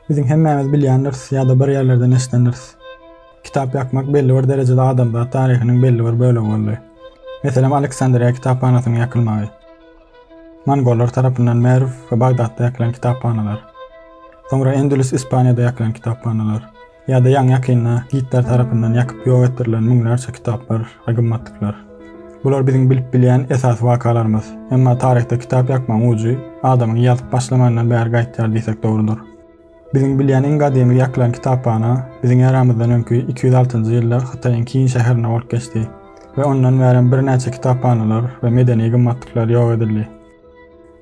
Biziň hemmämiz bilýändiris ýa-da bir ýerlerden eşidendiris. Kitap ýakmak belli bir derejede adamzat taryhynyň belli bir bölegi boldy. Meselem, Aleksandriýa kitaphanasynyň ýakylmagy. Mongollar tarapyndan Merw we Bagdatda ýakylan kitaphanalar. Soňra Endülüs Ispaniýada ýakylan kitaphanalar. Ýa-da ýaňy-ýakynda Gitler tarapyndan ýakyp ýok etdirilen müňlerçe kitaplar we gymmatlyklar. Bular biziň bilip bilýän esasy wakalarymyz. Emma taryhda kitap ýakmagyň ujy adamyň ýazyp başlamandan bäri gaýtýar diýsek dogrudyr. Biziň bilýän iň gadymy ýakylan kitaphana biziň eramyzdan öňki iki ýüz altynjy ýylda Hytaýyň Kin şäherinde bolup geçdi we ondan bärem birnäçe kitaphanalar we medeni gymmatlyklar ýok edildi.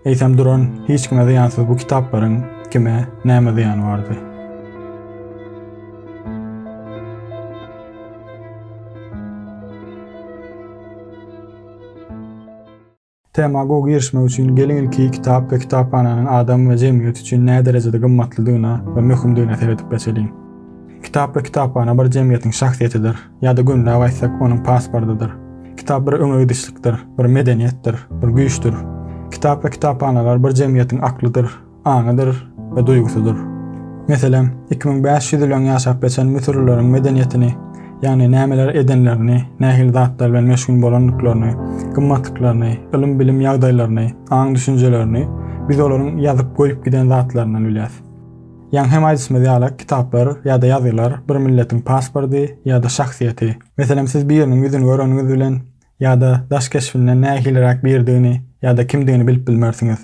Eýsem duran hiç kime zyýansyz bu kitaplaryň kime, näme zyýany bardy? Tema gowy girişmek üçin geliň ilki kitap we kitaphananyň adam we jemgyýet üçin näderejede gymmatlydygyna we möhümdigine seredip geçeliň. Kitap we kitaphana bir jemgyýetiň şahsyýetidir. Ýa-da gümläp aýtsak, onuň pasportydyr. Kitap bir öňe gidişlikdir, bir medeniýetdir, bir güýçdür. Kitap we kitaphanalar bir jemgyýetiň aklydyr, aňydyr we duýgusydyr. Meselem, iki müň bäş ýüz ýyl öň ýaşap geçen müsürlileriň medeniýetini, ýagny nämeler edenlerini, nähili zatlar bilen meşgul bolandyklaryny, gymmatlyklaryny, ylym-bilim ýagdaýlaryny, aň-düşünjelerini biz olaryň ýazyp goýup giden zatlaryndan bilýäs. Ýaňy hem aýdyşymyz ýaly, kitaplar ýa-da ýazgylar bir milletiň paspordy ýa-da şahsyýeti. Meselem, siz biriniň ýüzüni göreniňiz bilen ýa-da daş keşbinden nähiliräk biridigini ýa-da kimdigini bilip bilmersiňiz.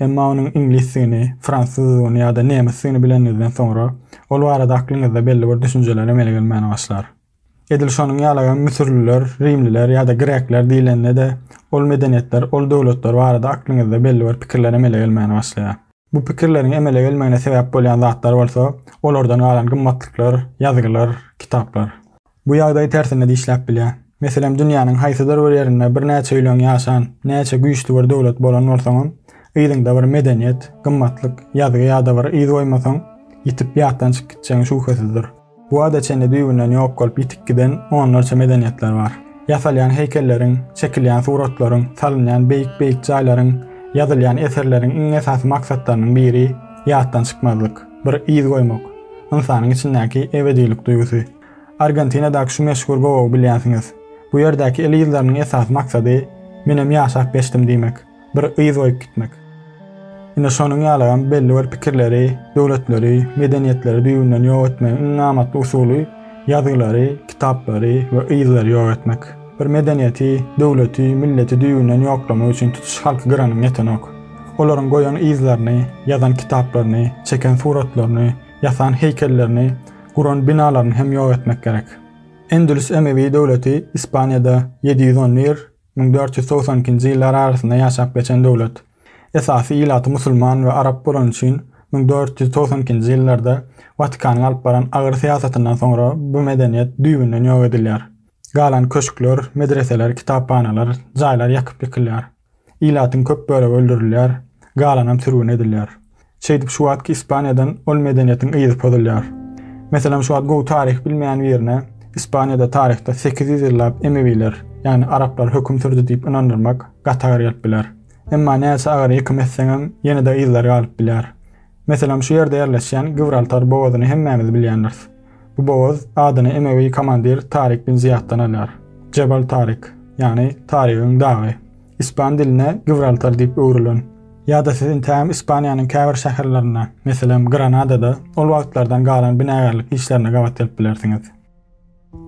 Emma onuň iňlisdigini, fransuzdygyny ýa-da nemsdigini bileniňizden soňra, ol barada aklyňyzda belli bir düşünjeler emele gelmäne başlar. Edil şonuň ýalygam müsürliler, rimliler ýa-da grekler diýlende-de, ol medeniýetler, ol döwletler barada aklyňyzda belli bir pikirler emele gelmäne başlaýar. Bu pikirleriň emele gelmegine sebäp bolýan zatlar bolsa, olardan galan gymmatlyklar, ýazgylar, kitaplar. Bu ýagdaý tersine-de işläp bilýär. Meselem, dünýäniň haýsydyr bir ýerinde birnäçe ýüleň ýaşan, näçe güýçli bir döwlet bolan bolsaňam, yzyňda bir medeniýet, gymmatlyk, ýazgy ýa-da bir yz goýmasaň, ýitip ýatdan çykyp gitjegiň şübhesizdir. Bu wagta çenli düýbünden ýok bolup ýitip giden onlarça medeniýetler bar. Ýasalýan heýkelleriň, çekilýän suratlaryň, salynýan beýik-beýik jaýlaryň, ýazylýan eserleriň iň esasy maksatlarynyň biri, ýatdan çykmazlyk, bir yz goýmak, ynsanyň içindäki ebedilik duýgusy. Argentinadaky şu meşhur gowagy bilýänsiňiz. Bu ýerdäki el yzlarynyň esasy maksady, Menem ýaşap geçdim diýmek. bir yz goýup gitmek. Ine şonuň ýalygam belli bir pikirleri, döwletleri, medeniýetleri düýbünden ýok etmegiň iň amatly usuly ýazgylary, kitaplary we yzlary ýok etmek. Bir medeniýeti, döwleti, milleti düýbünden ýoklamak üçin tutuş halky gyranyň ýetenok. Olaryň goýan yzlaryny, ýazan kitaplaryny, çeken suratlaryny, ýasan heýkellerini, guran binalaryny hem ýok etmek gerek. Endülüs Emewi döwleti Ispaniýada ýedi ýüz on bir, Müň dört ýüz togsan ikinji ýyllar arasynda ýaşap geçen döwlet. Esasy ilaty musulman we arap bolany üçin müň dört ýüz togsan ikinji ýyllarda Watikanyň alyp baran agyr syýasatyndan soňra bu medeniýet düýbünden ýok edilýär. Galan köşkler, medreseler, kitaphanalar, jaýlar ýakyp ýykylýar. Ilatyň köp bölegi öldürilýär, galanam sürgün edilýär. Şeýdip şu wagtky Ispaniýadan ol medeniýetiň yzy pozulýar. Meselem şu wagt gowy taryh bilmeýän birine Ispaniýada taryhda sekiz ýüz ýyllap emewiler, ýagny araplar höküm sürdi diýip ynandyrmak gaty agyr gelip biler. Emma näçe agyr ýekim etseňem ýene-de yzlar galyp bilýär. Meselem şu ýerde ýerleşýän Gibraltar bogazyny hemmämiz bilýändiris. Bu bogaz adyny emewi komandir Tarik bin Zyýatdan alýar. Jebal Tarik, ýagny Tarigiň dagy. Ispan diline Gibraltar diýip öwrülen. Ýa-da siz intägem Ispaniýanyň käbir şäherlerinde, meselem, Granadada ol wagtlardan galan binagärlik işlerine gabat gelip bilersiňiz.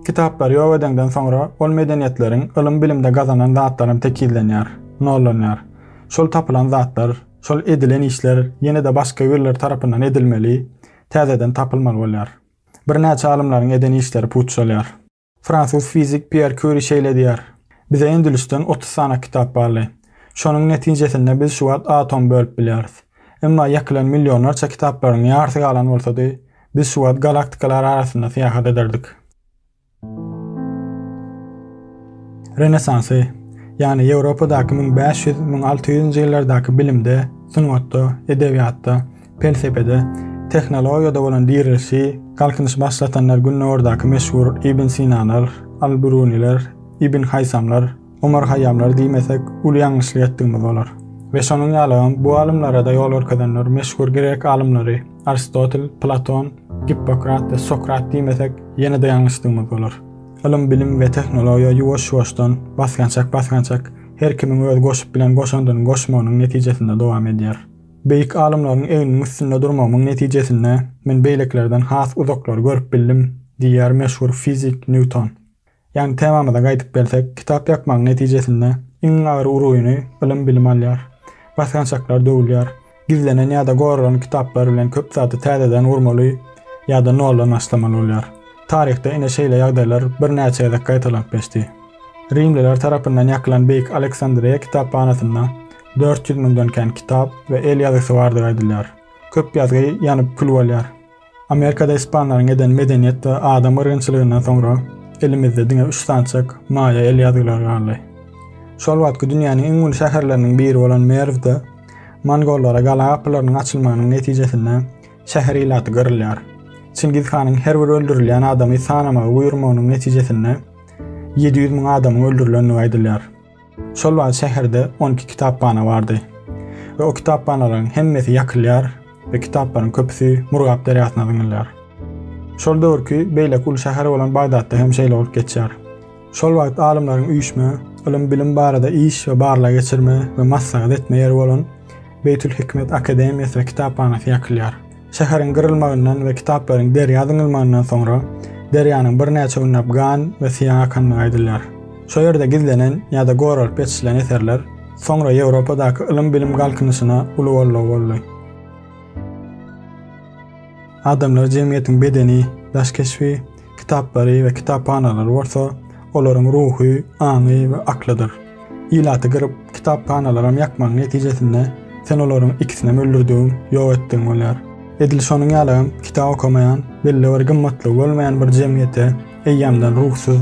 Kitaplary ýok edeňden soňra ol medeniýetleriň ylym-bilimde gazanan zatlaram tekizlenýär, nollanýar. Şol tapylan zatlar, şol edilen işler ýene-de başga birler tarapyndan edilmeli, täzeden tapylmaly bolýar. Birnäçe alymlaryň eden işleri puçalýar. Fransuz fizik Pýer Kýuri şeýle diýýär, Bize endilişden otuz sany kitap barly. Şonuň netijesinde biz şu wagt atom bölüp bilýäris. Emma ýakylan millionlarça kitaplaryň ýarysy galan bolsady, biz şu wagt galaktikalar arasynda syýahat ederdik. Renesansy, ýagny Ýewropadaky müň bäş ýüz, müň alty ýüzünji ýyllardaky bilimde, sungatda, edebiýatda, Pelsepede, tehnologiýada bolan direlişi galkynyşy başlatanlar Gündogardaky meşhur Ibn Sinalar, Al-Biruniler, Ibn Haýsamlar, Omar Haýýamlar diýmesek, uly ýalňyşlyk etdigimiz bolar. We şonuň ýalygam, bu alymlara-da ýol görkezenler meşhur grek alymlary Aristotel, Platon, Gippokrat we Sokrat diýmesek, ýene-de ýalňyşdygymyz bolar. Ylym-bilim we tehnologiýa ýuwaş-ýuwaşdan, basgançak-basgançak, her kimiň öz goşup bilen goşandynyň goşmagynyň netijesinde dowam edýär. Beýik alymlaryň egniniň üstünde durmagymyň netijesinde men beýlekilerden has uzaklary görüp bildim diýýär meşhur fizik Nýuton. Ýagny temamyza gaýdyp gelsek, kitap ýakmagyň netijesinde iň agyr urugyny ylym-bilim alýar. Basgançaklar döwülýär. Gizlenen ýa-da goralan kitaplar bilen köp zady täzeden gurmaly ýa-da noldan başlamaly bolýar. Taryhda ine şeýle ýagdaýlar birnäçe gezek gaýtalanyp geçdi. Rimliler tarapyndan ýakylan Beýik Aleksandriýa kitaphanasynda Dört ýüz müňden kän kitap we el ýazgysy bardygy aýdylýar. Köp ýazgy ýanyp kül bolýar. Amerikada ispanlaryň eden medeniýet we adam gyrgynçylygyndan soňra elimizde diňe üç sançak maýa el ýazgylary galdy. Şol wagtky dünýäniň iň uly şäherleriniň biri bolan Merwde mongollara gala gapylarynyň açylmagynyň netijesinde şäher ilaty gyrylýar. Çingiz hanyň her bir öldürilýän adamy sanamagy buýurmagynyň netijesinde ýedi ýüz müň adamyň öldürilendigi aýdylýar. Şol wagt şäherde on iki kitaphana bardy we o kitaphanalaryň hemmesi ýakylýar we kitaplaryň köpüsi Murgap derýasyna zyňylýar. Şol döwürki beýleki uly şäher bolan Bagdatda hem şeýle bolup geçýär. Şol wagt alymlaryň üýşme, ylym-bilim barada iş we barlag geçirme we maslahat etme ýeri bolan Beýtül-Hikmet akademiýasy we kitaphanasy ýakylýar. Şäheriň gyrylmagyndan we kitaplaryň derýa zyňylmagyndan soňra, derýanyň birnäçe günläp gan we syýa akandygy aýdylýar. Şo ýerde gizlenen ýa-da goralyp geçirilen eserler soňra Ýewropadaky ylym-bilim galkynyşyna uly goldaw boldy. Adamlar jemgyýetiň bedeni, daş keşbi, Kitaplary we kitaphanalary bolsa olaryň ruhy, aňy we aklydyr. Ilaty gyryp, kitaphanalaram ýakmagyň netijesinde sen olaryň ikisinem öldürdigiň, ýok etdigiň bolýar. Edil şonuň ýaly hem kitap okamaýan, belli bir gymmatlygy bolmaýan bir jemgyýete eýýämden ruhsyz,